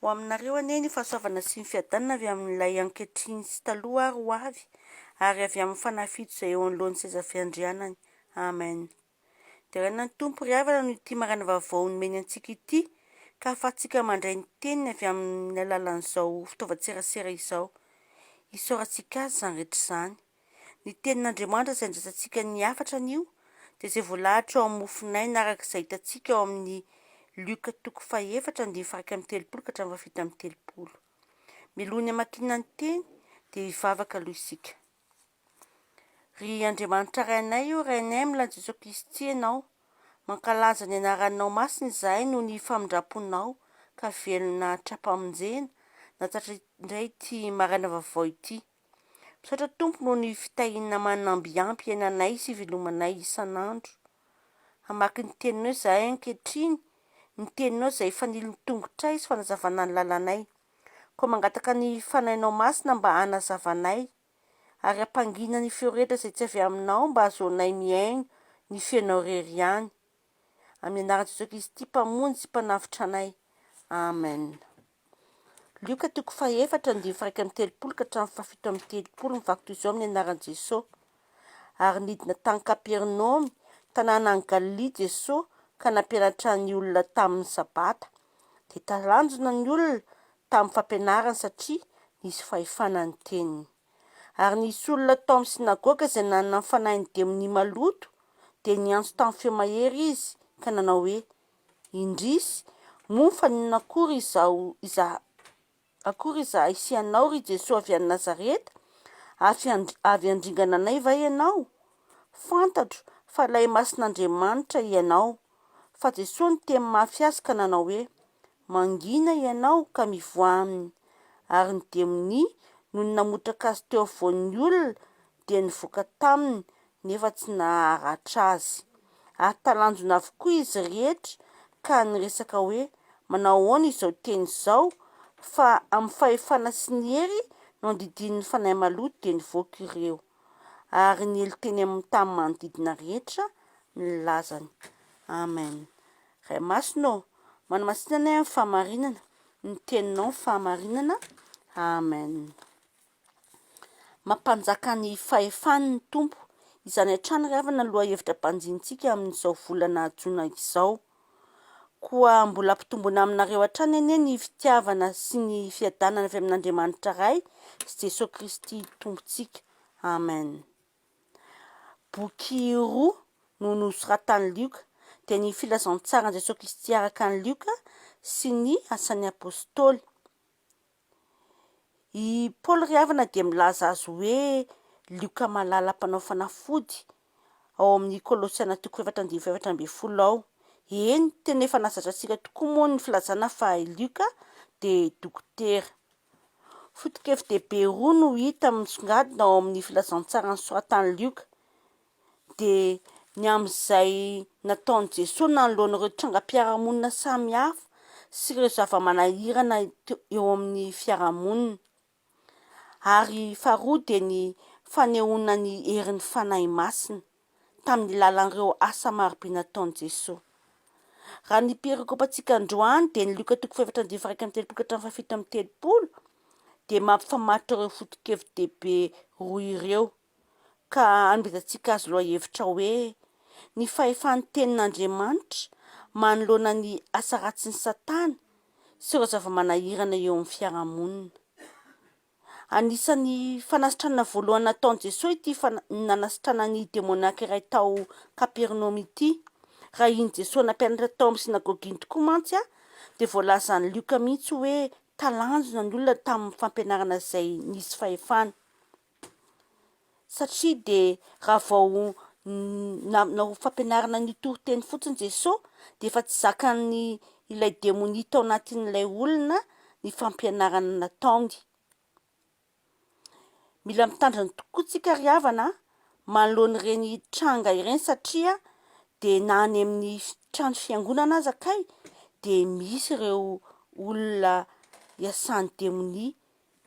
Ho aminareo anie ny fahasoavana sy ny fiadanana avy amin'Ilay ankehitriny sy taloha ary ho avy, ary avy amin'ny fanafito izay eo anoloan'ny seza fiandrianany. Amen. Deraina ny Tompo ry havana noho ity maraina vaovao nomeny antsika ity, ka hahafahantsika mandray ny Teniny avy amin'ny alalan'izao fitaovan-tserasera izao. Isaorantsika Azy izany rehetra izany. Ny Tenin'Andriamanitra izay andrasantsika ny hafatra anio dia izay voalahatra ao amin'ny mofonaina araka izay hitantsika ao amin'ny Lioka toko fahefatra andininy faha iraika amby telopolo ka hatramin'ny fahafito amby telopolo. Mialoha ny hamakiana ny Teny dia hivavaka aloha isika. Ry Andriamanitra Rainay ô, Rainay milan'i Jesoa Kristy Ianao, mankalaza ny Anaranao masina izahay noho ny famindram-ponao ka velona tra-pamonjena nahatratra indray ity maraina vaovao ity. Misaotra Tompo noho ny fitahiana manambiampy anay sy ivelomanay isan'andro hamaky ny Teninao izahay ankehitriny, ny Teninao izay fanilon'ny tongotray sy fanazavana ny lalanay. Koa mangataka ny Fanahinao Masina mba hanazava anay, ary hampangina ny feo rehetra izay tsy avy Aminao mba hahazoanay mihaino ny Feonao irery ihany. Amin'ny anaran'i Jesoa Kristy Mpamonjy sy Mpanavotra anay. Amen. Lioka toko fahefatra andininy faraika amby telopolo ka hatramin'ny fahafito amby telopolo mivaky toy izao amin'ny anaran'i Jesosy, Ary nidina tany Kapernaomy, tanàna any Galilia, Jesosy, ka nampianatra ny olona tamin'ny Sabata. Dia talanjona ny olona tamin'ny fampianarany, satria nisy fahefana ny teniny. Ary nisy olona tao amin'ny synagoga izay nanana ny fanahin'ny demonia maloto, dia niantso tamin'ny feo mahery izy, ka nanao hoe, Indrisy, moa fa ninona akory izao iza akory izahay sy ianao, ry Jesoa avy any Nazareta? Avy avy handringana anay va ianao? Fantatro fa ilay Masin'Andriamanitra ianao. Fa Jesoa niteny mafy azy ka nanao hoe, Mangina ianao ka mivoaha aminy. Ary ny demonia, nony namotraka azy teo afovoan'ny olona, dia nivoaka taminy nefa tsy naharatra azy. Ary talanjona avokoa izy rehetra ka niresaka hoe, Manao ahoana izao teny izao? Fa amin'ny fahefana sy ny hery no andidian'ny fanahy maloto dia nivoaka ireo. Ary niely teny amin'ny tany manodidina rehetra ny lazany. Amen. Ray Masina ô, manamasina anay amin'ny fahamarinana, ny Teninao ny fahamarinana. Amen. Mampanjaka ny fahefany ny Tompo. Izany hatrany ry havana no lohahevitra banjinintsika amin'izao volana jona izao. Koa mbola hampitombona aminareo hatrany anie ny fitiavana sy ny fiadanana avy amin'Andriamanitra Ray sy Jesoa Kristy Tompontsika. Amen. Boky roa no nosoratan'i Lioka, dia ny Filazantsaran'i Jesoa Kristy araka an'i Lioka sy ny Asan'ny Apostoly. I Paoly ry havana dia milaza azy hoe Lioka malala mpanao fanafody ao amin'ny Kolosiana toko efatra andininy fahefatra ambin'ny folo ao. Eny, tena efa nahazatra antsika tokoa moa ny filazana fa i Lioka dia dokotera. Foto-kevi-dehibe roa no hita misongadina ao amin'ny Filazantsara nosoratan'i Lioka. dia ny amin'izay nataon'i Jesoa nanoloana ireo trangam-piarahamonina samihafa sy ireo zava-manahirana eo amin'ny fiarahamonina. Ary faharoa dia ny fanehoana ny herin'ny Fanahy Masina tamin'ny lalan'ireo asa marobe nataon'i Jesoa. Raha ny perikopantsika androany dia ny Lioka toko fahefatra andininy faha iraika amby telopolo ka hatramin'ny fahafito amby telopolo dia mampifamatotra ireo foto-kevi-dehibe roa ireo. Ka amezantsika azy lohahevitra hoe ny fahefan'ny Tenin'Andriamanitra manoloana ny asa ratsin'i Satana sy ireo zava-manahirana eo amin'ny fiarahamonina. Anisan'ny fanasitranana voalohany nataon'i Jesoa ity nanasitranany ny demoniaka iray tao Kapernaomy ity. Raha iny Jesoa nampianatra tao amin'ny synagoga iny tokoa mantsy dia voalazan'i Lioka mihitsy hoe talanjona ny olona tamin'ny fampianarana izay nisy fahefana. Satria dia raha vao nanao fampianarana an'io toriteny fotsiny Jesosy dia efa tsy zakan'ny ilay demonia tao anatin'ilay olona ny fampianarana nataony. Mila mitandrina tokoa tsika ry havana a, manoloana ireny tranga ireny satria dia na any amin'ny fi- trano fiangonana aza kay dia misy ireo olona iasan'ny demonia.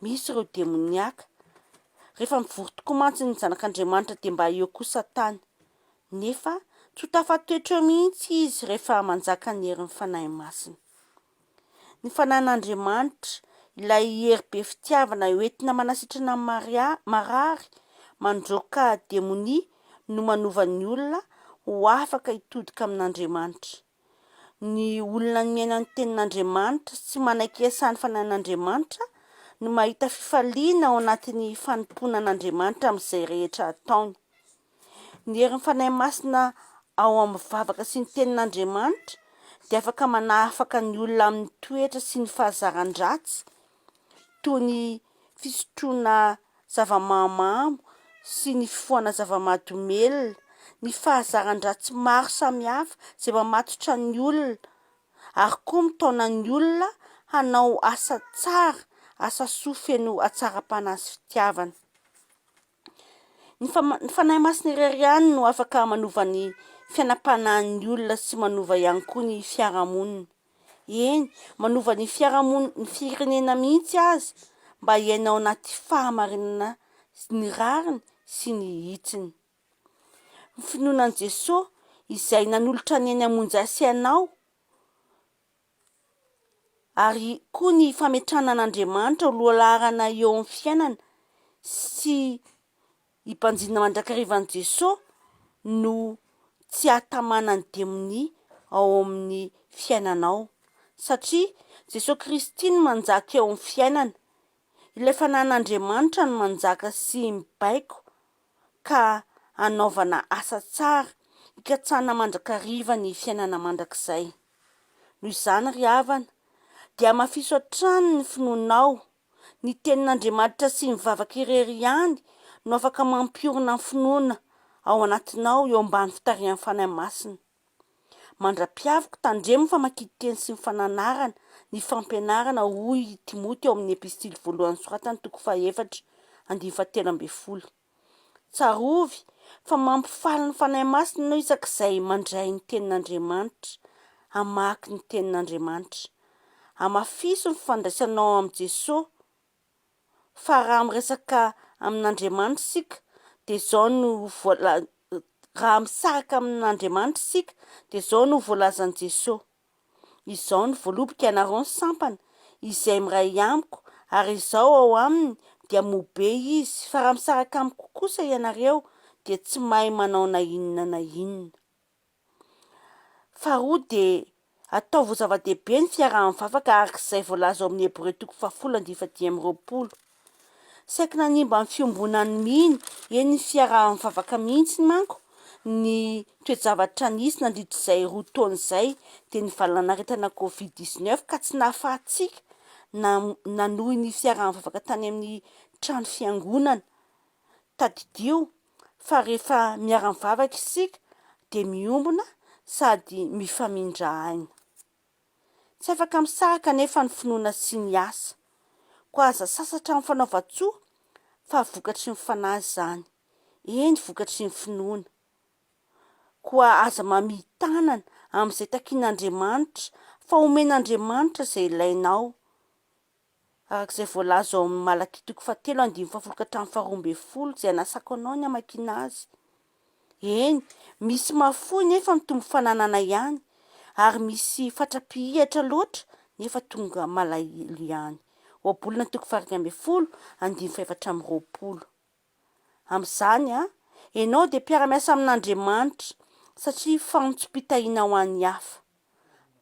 Misy ireo demoniaka. Rehefa mivory tokoa mantsy ny zanak'Andriamanitra dia mba eo koa Satana. Nefa tsy ho tafatoetra eo mihitsy izy rehefa manjaka ny herin'ny Fanahy Masina. Ny Fanahin'Andriamanitra, ilay hery be fitiavana hoentina manasitrana ny marary, mandroaka demonia no manova ny olona ho afaka hitodika amin'Andriamanitra. Ny olona niaina ny tenin'Andriamanitra sy manaiky hiasany fanahin'Andriamanitra no mahita fifaliana ao anatin'ny fanompoana an'Andriamanitra amin'izay rehetra ataony. Ny herin'ny Fanahy Masina ao amin'ny vavaka sy ny tenin'Andriamanitra dia afaka manahafaka ny olona amin'ny toetra sy ny fahazaran-dratsy toy ny fisotroana zava-mahamamo sy ny fifohana zava-mahadomelina, ny fahazaran-dratsy maro samihafa izay mamatotra ny olona ary koa mitaona ny olona hanao asa tsara, asa soa feno hatsaram-panahy sy fitiavana. Ny ny Fanahy Masina irery ihany no afaka manova ny fiainam-panahin'ny olona sy manova ihany koa ny fiarahamonina. Eny, manova ny fiarahamon- ny firenena mihitsy aza mba hiaina ao anaty fahamarinana sy ny rariny sy ny hitsiny. Ny finoana an'i Jesoa izay nanolotra ny ainy hamonjy ahy sy anao. ary koa ny fametrahana an'Andriamanitra ho lohalaharana eo amin'ny fiainana sy hibanjinana mandrakariva an'i Jesoa no tsy hahatamanan'ny demonia ao amin'ny fiainanao satria Jesoa Kristy no manjaka eo amin'ny fiainana, ilay fanahin'Andriamanitra no manjaka sy mibaiko. ka hanaovana asa tsara hikatsahana mandrakariva ny fiainana mandrakizay. Noho izany ry havana, dia hamafiso hatrany ny finoanao, ny tenin'Andriamanitra sy ny vavaka irery ihany no afaka mampiorina ny finoana ao anatinao eo ambany fitarihan'ny Fanahy Masina. Mandra-piaviko, tandremo ny famakian-teny sy ny fananarana, ny fampianarana, hoy i Timoty ao amin'ny Epistily voalohany soratany, toko fahaefatra, andininy fahatelo ambin'ny folo. Tsarovy fa mampifaly ny Fanahy Masina ianao isak'izay mandray ny Tenin'Andriamanitra, hamaky ny Tenin'Andriamanitra. Hamafiso ny fifandraisanao amin'i Jesoa. fa raha miresaka amin'Andriamanitra isika dia izao no voala- raha misaraka amin'Andriamanitra isika dia izao no voalazan'i Jesoa, Izao no voaloboka ianareo ny sampana, izay miray amiko, ary Izaho ao aminy, dia mobe izy, fa raha misaraka amiko kosa ianareo dia tsy mahay manao na inona na inona. Faharoa dia ataovy ho zava-dehibe ny fiaraha-mivavaka araka izay voalaza ao amin'ny Hebreo toko fahafolo andifa dimy amby roapolo. Saiky nanimba ny fiombonan'ny mino eny ny fiaraha-mivavaka mihitsy manko ny toe-javatra nisy nandritra izay roa taona izay dia ny valanaretina covid dix neuf ka tsy nahafahantsika nanohy ny fiaraha-mivavaka tany amin'ny trano fiangonana Tadidio fa rehefa miara-mivavaka isika dia miombona sady mifamindra aina. Tsy afaka misaraka anefa ny finoana sy ny asa. Koa aza sasatra amin'ny fanaovan-tsoa fa vokatry ny fanahy izany, eny vokatry ny finoana. Koa aza mamia tanana amin'izay takian'Andriamanitra fa homen'Andriamanitra izay ilainao. araka izay voalaza ao amin'ny Malakia toko fahatelo andininy fahafolo ka hatramin'ny faharoa ambin'ny folo, izay anasako anao ny hamakiana azy. Eny, misy mahafoy nefa mitombo fananana ihany, ary misy fatra-pihihatra loatra nefa tonga malahelo ihany. Ohabolana toko faha iraika ambin'ny folo, andininy fahefatra amby roapolo. Amin'izany, ianao dia mpiara-miasa amin'Andriamanitra, satria fanontsom-pitahiana ho an'ny hafa.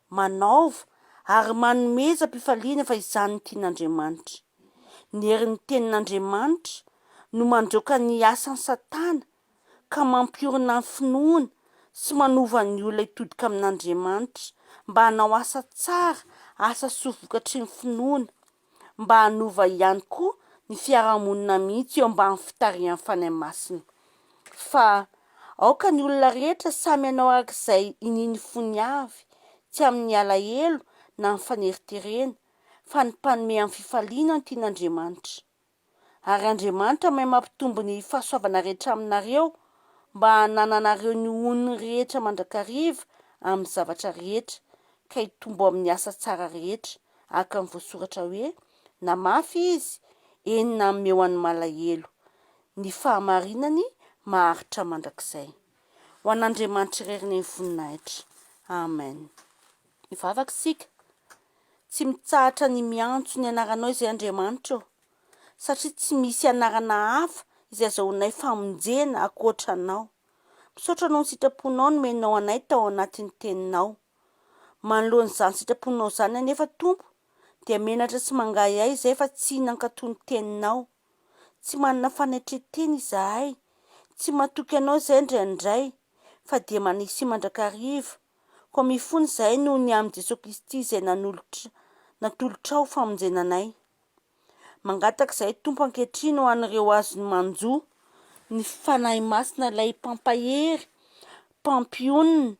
Manaova ary manomezam-pifaliana fa izany no tian'Andriamanitra. Ny herin'ny Tenin'Andriamanitra no mandroaka ny asan'i Satana ka mampiorina ny finoana sy manova ny olona hitodika amin'Andriamanitra mba hanao asa tsara, asa soa vokatry ny finoana. mba hanova ihany koa ny fiarahamonina mihitsy eo ambany fitarihan'ny Fanahy Masina. Fa aoka ny olona rehetra samy hanao araka izay inian'ny fony avy, tsy amin'ny alahelo na amin'ny faneriterena, fa ny mpanome amin'ny fifaliana ny tian'Andriamanitra. ary Andriamanitra mahay mampitombo ny fahasoavana rehetra aminareo mba hanananareo ny honony rehetra mandrakariva amin'ny zavatra rehetra, ka hitombo amin'ny asa tsara rehetra, araka ny voasoratra hoe, Na mafy izy, eny na mihomehy ho an'ny malahelo, ny fahamarinany maharitra mandrakizay. Ho an'Andriamanitra irery ny voninahitra. Amen. Mivavaka isika, tsy mitsahatra ny miantso ny anaranao izay Andriamanitra ô, satria tsy misy anarana hafa izay azahoanay famonjena ankoatra anao. Misaotra noho ny sitraponao nomenao anay tao anatin'ny teninao. Manoloana izany sitraponao izany anefa Tompo dia menatra sy mangahiahy izahay fa tsy nankato ny teninao. Tsy manana fanetren-tena izahay, tsy matoky anao izahay indraindray fa dia manisihy mandrakariva. Koa mifono izahay noho ny amin'i Jesoa Kristy izay nanolotra, natolotra ho famonjena anay. Mangataka izahay, Tompo, ankehitriny ho an'ireo azony manjo ny Fanahy Masina ilay Mpampahery, Mpampionona,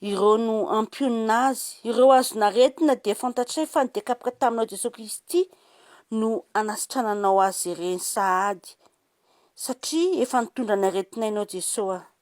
ireo no hampionona azy. Ireo azon'aretina dia fantatray fa ny dia kapoka taminao Jesoa Kristy no hanasitrananao azy ireny sahady, satria efa nitondra ny aretinay Ianao Jesoa.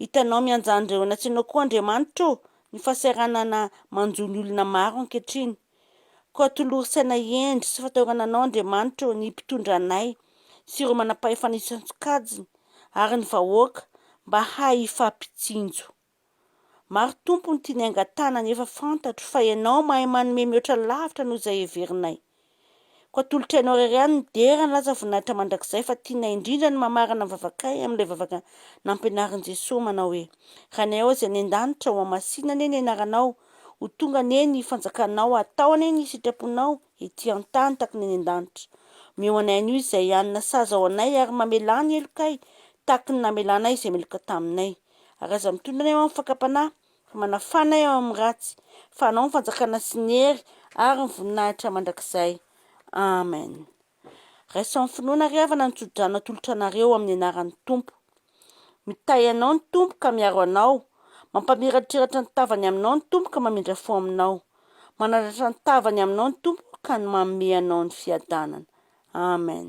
Hitanao mianjandreo eny an-tsena koa Andriamanitra ô, ny fahasahiranana manjo ny olona maro ankehitriny. Koa tolory saina hendry sy fataorana Anao Andriamanitra ô, ny mpitondra anay, sy ireo manam-pahefana isan-tsokajiny, ary ny vahoaka, mba hahay hifampitsinjo. Maro Tompo ny tiany hangatahana nefa fantatro fa Ianao mahay manome mihoatra lavitra noho izay heverinay. Koa atolotra anao irery ihany ny dera ny laza voninahitra mandrakizay fa tianay indrindra ny mamarana ny vavakay amin'ilay vavaka nampianarin'i Jesoa manao hoe, Ranay ao izay any an-danitra, hohamasina anie ny anaranao, ho tonga anie ny fanjakanao, hatao anie ny sitraponao ety an-tany tahaka ny any an-danitra. Omeo anay anio izay hanina sazy ao anay ary mamelà ny helokay tahaka ny namelanay izay meloka taminay. Ary aza mitondra anay ho amin'ny fakam-panahy Ka manafana ahy ao amin'ny ratsy, fa anao ny fanjakana sy ny hery ary ny voninahitra mandrakizay. Amen. Raiso amin'ny finoana ary havana ny tsodrano atolotra anareo amin'ny anaran'ny Tompo. Mitahy anao ny Tompo ka miaro anao, mampamiratrratra ny tavany aminao ny Tompo ka mamindra fo aminao, manandratra ny tavany aminao ny Tompo ka manome anao ny fiadanana. Amen.